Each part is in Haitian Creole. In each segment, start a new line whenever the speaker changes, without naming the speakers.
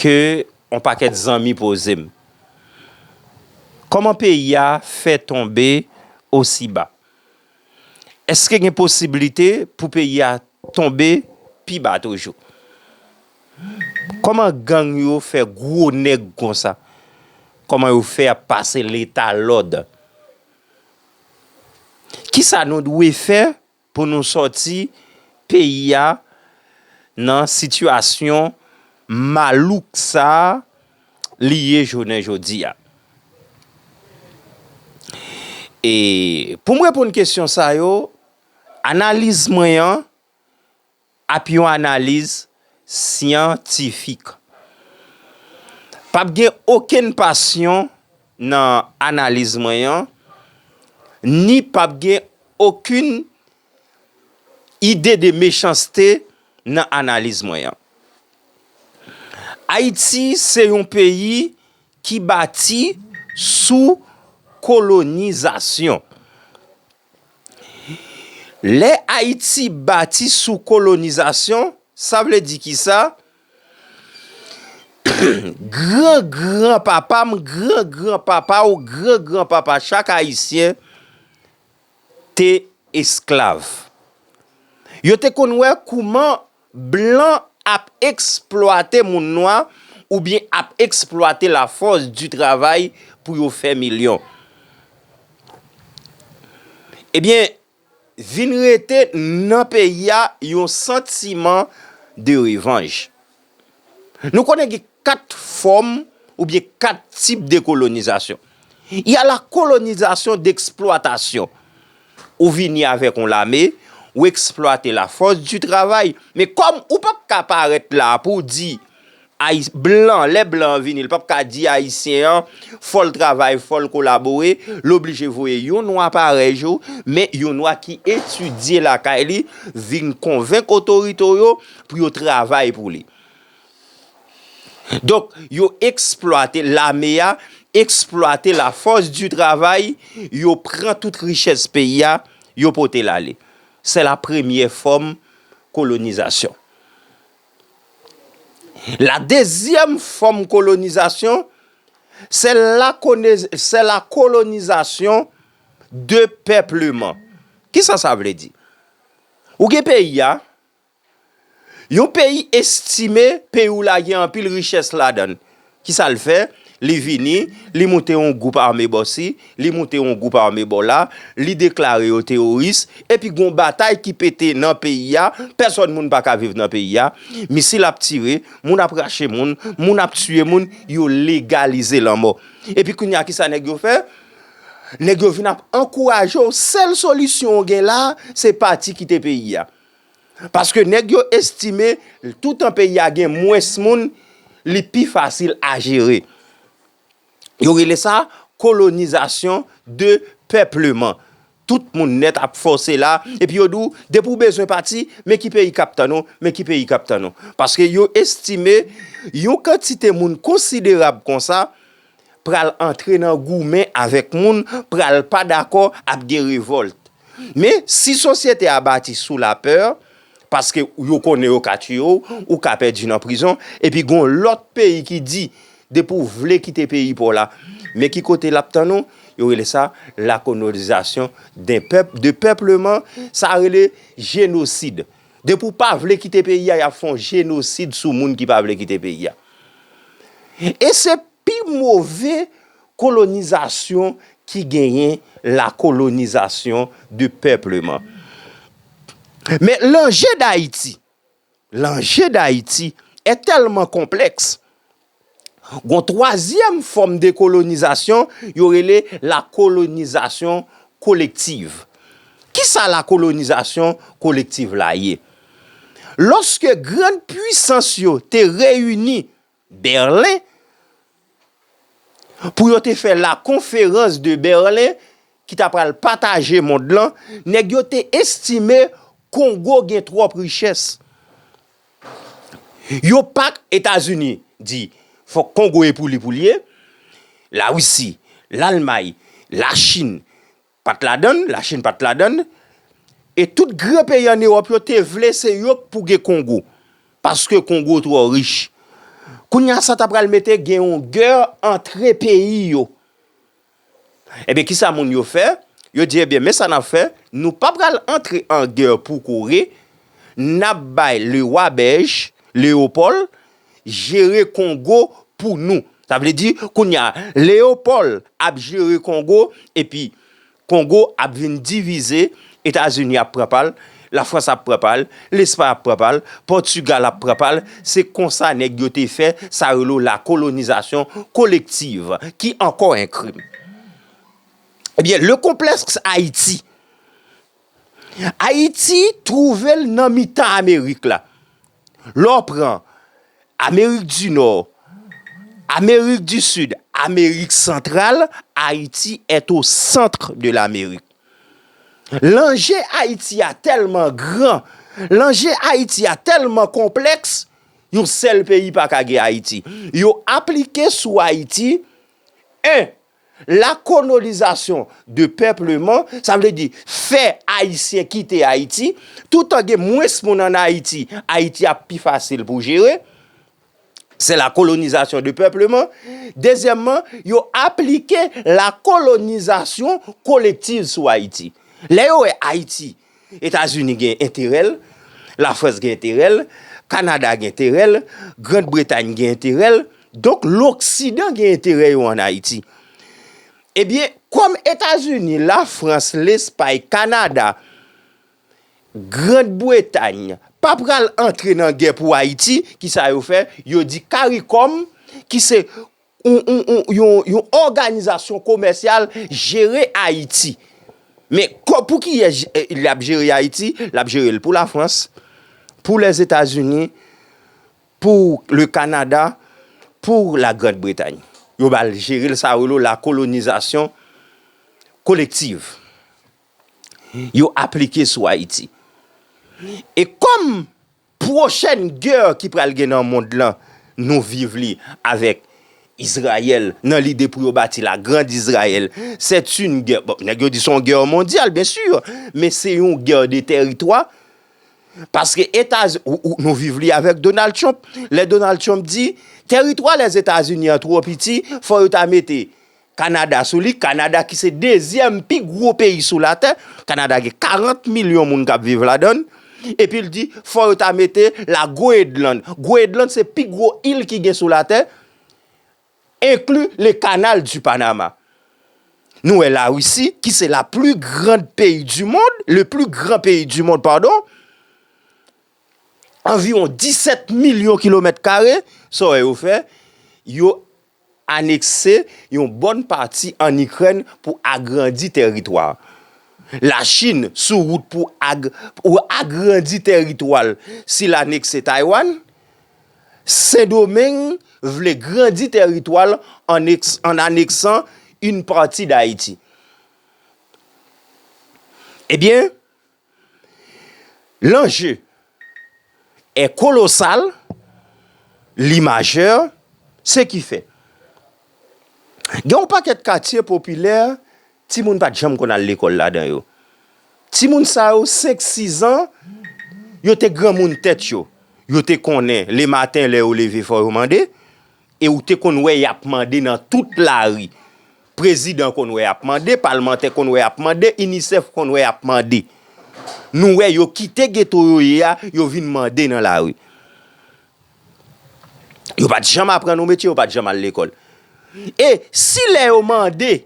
ke on pakèt zanmi poze m. Kòman peyi a fè tonbe osi ba? Eske gen posiblite pou peyi a tonbe pi ba toujou? Kòman gang yo fè gwo nèg konsa? Kòman yo fè ap pase leta lòd? Kisa nou dwe fè? Pou nou sòti peyi a nan sitiyasyon malouk sa a li ye jounen jodi a. E pou m reponn kesyon sa yo, analiz mwen an. Ap yon analiz syantifik. Pa p gen okenn pasyon nan analiz mwen an, ni pa p gen okenn ide de mechanste nan analiz mwen an. Ayiti se yon peyi ki bati sou kolonizasyon. Lè Ayiti bati sou kolonizasyon, sa vle di ki sa? Gran gran papa m, gran gran papa w, gran gran papa chak Ayisyen te esklav. Yo te konn wè kouman Blan ap eksplwate moun nwa oubyen ap eksplwate la fòs di travay pou yo fè milyon. Ebyen, vin rete nan peyi a yon santiman de revanj. Nou konnen gen 4 fòm ou byen 4 tip de kolonizasyon. Y a la kolonizasyon d'exploitation. Ou vini avèk yon lame, ou eksplwate la fòs di travay. Men kòm ou pa p ka parèt la pou w di blan, lè blan an vini, l pa p ka di ayisyen an fò l travay, fò l kolabore, l oblije voye yon nwa parèy ou, men yon nwa ki etidye lakay li, vin konvenk otorite w yo. pou yo travay pou li. Donk, yo eksplwate, lame a, eksplwate la fòs di travay, yo pran tout richès peyi a, yo pote l ale. Se la premye fòm kolonizasyon. La dezyèm fòm kolonizasyon, se la kolonizasyon de pèpleman. Kisa sa vle di? Ou gen peyi a. Yon peyi estime peyi w la gen anpil richès ladan l. Ki sa l fè? Li vini, li moute yon gwoup ame bò si, li moute yon gwoup ame bò la, li deklare yo teworis, epi gen yon batay ki pete nan peyi a, pèsòn moun pa ka viv nan peyi a, misil ap tire, moun ap rache moun, moun ap tiye moun, yo legalize lanmò. Epi kounye a ki sa nèg yo fè? Nèg yo vin ap ankouraje w, sèl solisyon w gen la, se pati kite peyi a. Paske nèg yo estime toutan peyi a gen mwens moun, li pi fasil a jere. Yo rele sa kolonizasyon de pèpleman. Tout moun nèt ap fòse la, epi yo di w, depi w bezwen pati, men ki peyi k ap tann ou, men ki peyi k ap tann ou. Paske yo estime yon kantite moun konsiderab konsa, pral antre nan goumen avèk moun, pral pa dakò, ap gen revòlt. Men, si sosyete a bati sou lapè, paske yo konnen yo ka tiye w, ou ka pèdi nan prizon, epi gen yon lòt peyi ki di, depi w vle kite peyi pa w la, men ki kote l ap tann ou, yo rele sa la kolonizasyon de pèp, depèpleman, sa rele jenosid. Depi w pa vle kite peyi a, y ap fè yon jenosid sou moun ki pa vle kite peyi a. E se pi move kolonizasyon ki genyen la kolonizasyon de pèpleman. Men lanje Dayiti, lanje Dayiti e tèlman konplèks, gon twazyèm fòm de kolonizasyon yo rele la kolonizasyon kolektiv. Kisa la kolonizasyon kolektiv la ye? Lòske grand pwisans yo te reyini Berlen pou yo te fè la konferans de Berlen ki ta pral pataje mond lan, nèg yo te estime Kongo gen twòp richès. Yo pa, Etazini di fòk Kongo e pou li pou li ye, Larisi, Lalmay, Lachin, Pat ladann, la chine pat ladann, e tout gran peyi an Europe yo te vle se yo k pou gen Congo, paske Congo trò rich. Kounye a sa ta pral mete gen yon guerre antre peyi yo. Ebyen kisa moun yo fè, yo di ebyen men sa nap fè, nou pa pral antre an guerre pou Coree, nap bay le roi Belge, Leopold, jere kongo pou nou sa vle di kounya leopòl ap jere kongo epi kongo ap vin divize etazini ap pran pal la frans ap pran pal lespay ap pran pal pòtugal ap pran pal se konsa nèg yo te fè sa relo la kolonizasyon kolektiv ki ankò en krim ebyen le konplèks ayiti ayiti trouvel nan mitan amerik la. Lè w pran Amerik di Nò, Amerik di Sid, Amerik Santral, Ayiti est au centre de l'Amérique. Lanje Ayiti a tèlman gran, lanje Ayiti a tèlman konplèks, yon sèl peyi pa ka gen Ayiti. Yo aplike sou Ayiti 1. La kolonizasyon de pèpleman, sa vle di fè Ayisyen kite Ayiti, toutan gen mwens moun an Ayiti, Ayiti ap pi fasil pou jere, se la kolonizasyon de pèpleman. Dezyèmman, yo aplike la kolonizasyon kolektiv sou Ayiti. Lè yo wè Ayiti Etazini gen enterè l, Lafrans gen enterè l, Kanada gen enterè l, Grand Bretay gen enterè l, donk loksidan gen enterè yo an Ayiti. Ebyen, kòm Etazini, Lafrans, Lespay, Kanada, Grand Bretay pa pral antre nan gè pou Ayiti, kisa yo fè? Yo di Karikòm ki se yon òganizasyon komèsyal jere Ayiti. Men, pou kiyès li ap jere Ayiti? Li ap jere l pou Lafrans, pou Lèzetazini, pou Le Kanada, pou La Grand Bretay. Yo ba l jere l sa yo rele la kolonizasyon kolektiv. Yo aplike sou Ayiti. E kòm... Pwochèn gè ki pral gen nan mond lan nou viv li avèk Izrayèl nan lide pou yo bati la grand Izrayèl c'est une guerre bon nèg yo di son guerre mondiale bien sûr men se yon guerre de tèritwa paske etaz nou viv li avèk Donald Trump lè Donald Trump di tèritwa lèzetazini an twò piti fò yo ta mete Kanada sou li, Kanada ki se dezyèm pi gwo peyi sou latè, Kanada gen 40 milyon moun kap viv ladann, epi l di fò yo ta mete la Goedland, Goedland se pi gwo il ki gen sou latè, enkli le kanal di Panama. Nou wè la Risi ki se la pli grand peyi di mond, le pli gran peyi di mond padon, anviwon 17 milyon kilomèt kare, sa w wè yo fè, yo anekse yon bòn pati ann Ikrèn pou agrandi tèritwa. Lachin sou wout pou agrandi tèritwa l si l anekse Taywann, Sendomeng vle grandi tèritwa l ann aneksan yn pati Dayiti. Ebyen. L'enjeu est colossal, li majeur, se ki fè gen yon pakèt katye popilè timoun pat janm konn al lekòl ladan yo. Timoun sa yo 5, 6 an, yo te granmoun tèt yo, yo te konnen le maten lè yo leve fò yo mande e ou te konn wè yap mande nan tout lari. Prezidan konn wè ap mande, palmantè konn wè ap mande, UNICEF konn wè ap mande. Nou wè yo kite geto yo ye a, yo vin mande nan lari. Yo pat janm aprann yon metye, yo pat janm al lekòl. E si lè yo mande,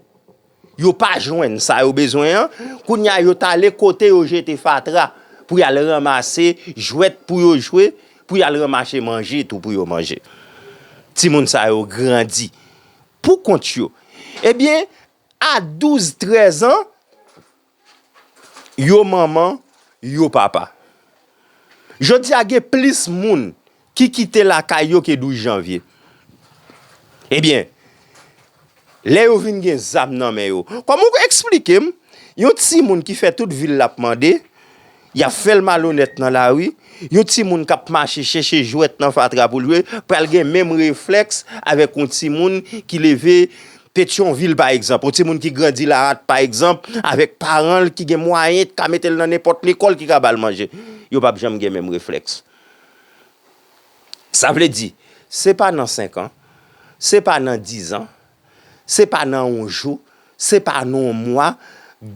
yo pa jwenn sa yo bezwen an, kounye a yo ta ale kote yo jete fatra pou y al ranmase jwèt pou yo jwe, pou y al ranmase manje tou pou yo manje. Timoun sa yo grandi. Pou kont yo. Ebyen, a 12, 13 an, yo manman, yo papa. Jodi a gen plis moun ki kite lakay yo ke 12 janvye. Ebyen, lè yo vin gen zam nan men yo. Kòman ou eksplike m, yon ti moun ki fè tout vil la ap mande, Y ap fè l malonèt nan lari. Yon timoun k ap mache chèche jwèt nan fatra pou l jwe pral gen menm reflèks avèk yon timoun ki leve Petyonvil pa egzanp, yon timoun ki grandi Laatte pa egzanp, avèk paran l ki gen mwayen, ki ka mete l nan nenpòt lekòl, ki ka ba l manje. Yo p ap janm gen menm reflèks. Sa vle di, se pa nan senkan, se pa nan dizan. Se pa nan yon jou, se pa nan yon mwa,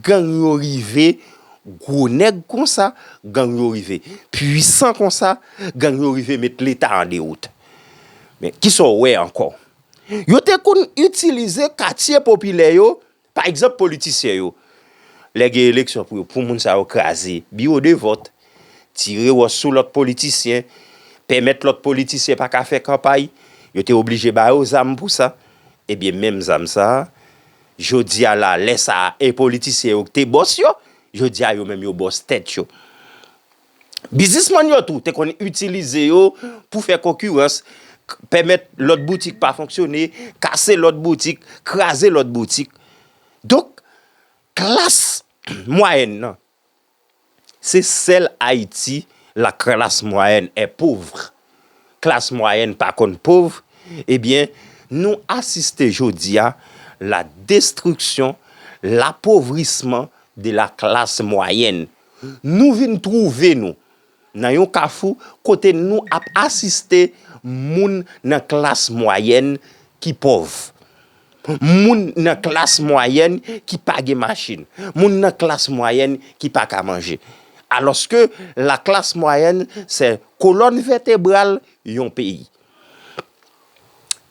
gang yo rive gwo nèg konsa, gang yo rive pwisan konsa, gang yo rive met leta an dewout. Men, ki sa w wè ankò? Yo te konn itilize katye popilè yo, pa egzanp politisyen yo, lè gen eleksyon pou moun sa yo kraze biwo de vòt. tire wòch sou lòt politisyen, pèmèt lòt politisyen pa ka fè kanpay, yo te oblije ba yo zam pou sa, ebyen menm zam sa a, jodi a la, lè sa a, e politisyen yo ki te bòs yo, jodi a yo menm yo bòs tèt yo. Biznisman yo tou te konn itilize yo pou fè konkirans, pèmèt lòt boutik pa fonksyone, kase lòt boutik, kraze lòt boutik. Donk, klas mwayèn nan, Se sèl Ayiti la klas mwayèn est pauvre, klas mwayèn pa konn pov, ebyen nou asiste jodi a la destruction, l'appauvrisman de la classe moyenne. Nou vin twouve nou. Nan yon kafou kote nou ap asiste moun nan klas mwayèn ki pòv, moun nan klas mwayèn ki pa gen machin, moun nan klas mwayèn ki pa ka manje. Alòske laklas mwayèn se kolòn vètebral yon peyi.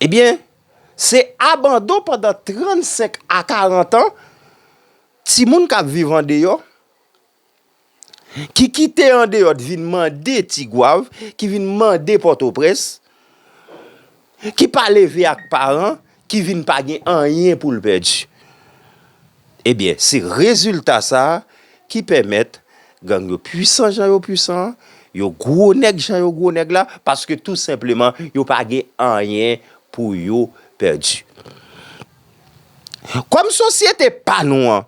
Ebyen, se abandon pandan 35 a 40 an, timoun k ap viv andeyò, ki kite andeyò t vin mande tigwav, ki vin mande pòtoprens, ki pa leve ak paran, ki vin pa gen anyen pou l pèdi. Ebyen, se rezilta sa ki pèmèt gang yo pwisan jan yo pwisan, yo gwo nèg jan yo gwo nèg la, paske tou senpleman yo pa gen anyen pou yo pèdi. Kòm sosyete pa nou an,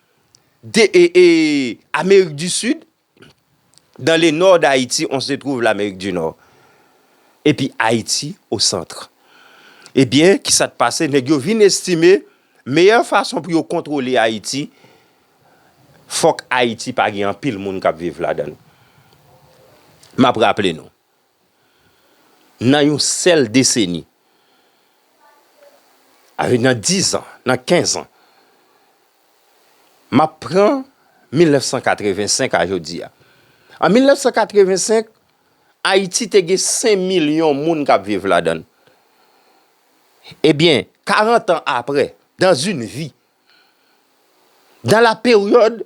Amerik di Sid, Dans le Nord d'Haïti on se trouve l'Amérique du Nord epi Ayiti au centre. Ebyen, ki sa t pase? Nèg yo vin estime meyè fason pou yo kontwole Ayiti, fòk Ayiti pa gen anpil moun k ap viv ladan l. M ap raple nou, nan yon sèl deseni, avèk nan 10 an, nan 15 an, m ap pran 1985 a jodi a. An 1985, Ayiti te gen 5 milyon moun k ap viv ladan l. Ebyen, 40 an apre, dans une vie, dans la période,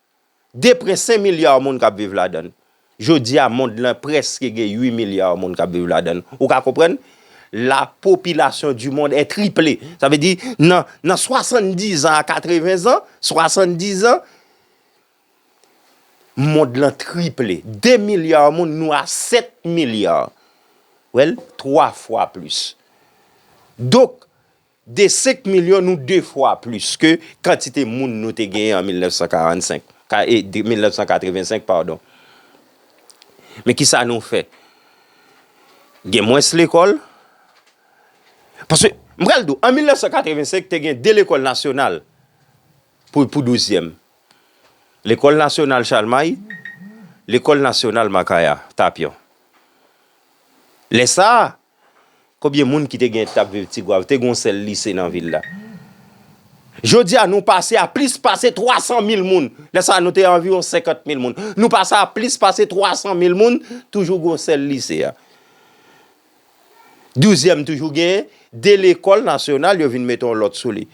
De prè 5 milyar moun kap viv ladan l. Jodi a mond lan prèske gen 8 milyar moun kap viv ladan l. Ou ka konprann? La popilasyon di mond è triple. Sa vle di nan 70 an a 80 an, 70 an, mond lan triple. De milyar moun nou a 7 milyar. Wè l? 3 fwa plis. Donk. De 5 milyon nou de fwa plis ke kantite moun nou te genyen an 1945, ka e 1985 padon. Men ki sa nou fè? Gen mwens lekòl, paske m pral di w an 1985 te gen 2 lekòl nasyonal pou pou douzyèm. Lekòl nasyonal Chalmay, lekòl nasyonal Makaya, Tapyon. Lè sa a. Konbyen moun ki te gen tap viv Tigwav te gon sèl lise nan vil la. Jodi a nou pase a plis pase 300 mil moun. Lè sa a nou te anviwon 50 mil moun. Nou pase a plis pase 300 mil moun toujou gon sèl lise a. Douzyèm toujou gen 2 lekòl nasyonal yo vin mete yon lòt sou li.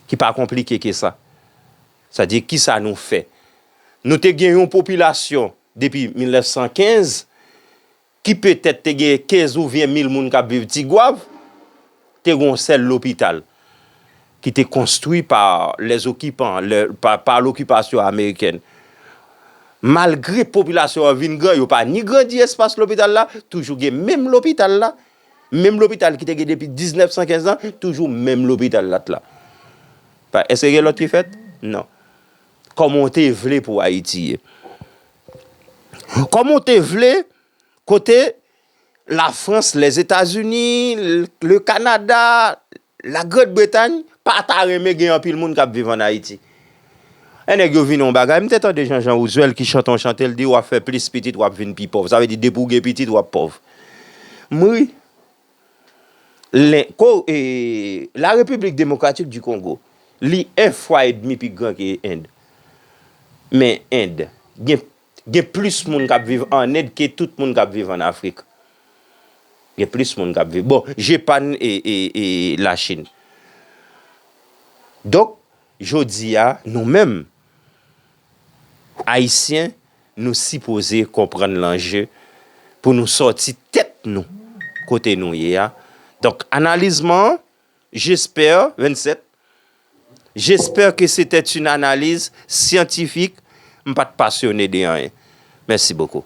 Ki pa konplike ke sa. Sa di ki sa nou fè. Nou te gen yon popilasyon depi 1915. ki petèt te genyen 15 oubyen 1000 moun k ap viv Tigwav, te gen yon sèl lopital ki te konstwi pa lèzokipan, pa lokipasyon amerikèn. Malgre popilasyon an vin gran, yo pa ni grandi espas lopital la, toujou gen menm lopital la, menm lopital ki te gen depi 1915 lan, toujou menm lopital la t la. Eske gen lòt ki fèt? Non. Kòman w te vle pou Ayiti ye? Kòman w te vle kote Lafrans, Lèzetazini, Le Kanada, La Grand Bretagne pa ta renmen gen anpil moun k ap viv ann Ayiti? Lè nèg yo vin yon bagay, m te tande jan Jean Rousuel ki chante yon chante l di w ap fè plis pitit w ap vin pi pòv, sa vle di depi w gen pitit w ap pòv. M ri. La Repiblik Demokratik di Kongo, li 1 fwa e demi pi gran ke End. Men End, gen plis moun kap viv an End ke tout moun kap viv an Afrik. Gen plis moun kap viv. Bon, Jepann e la Chin. Donk, jodi a, nou menm, Ayisyen nou sipoze konprann lanje pou nou sòti tèt nou kote nou ye a donk analiz mwen an jespè 27 jespè ke se tè yn analiz syantifik m pat pasyone de anyen mèsi bokou.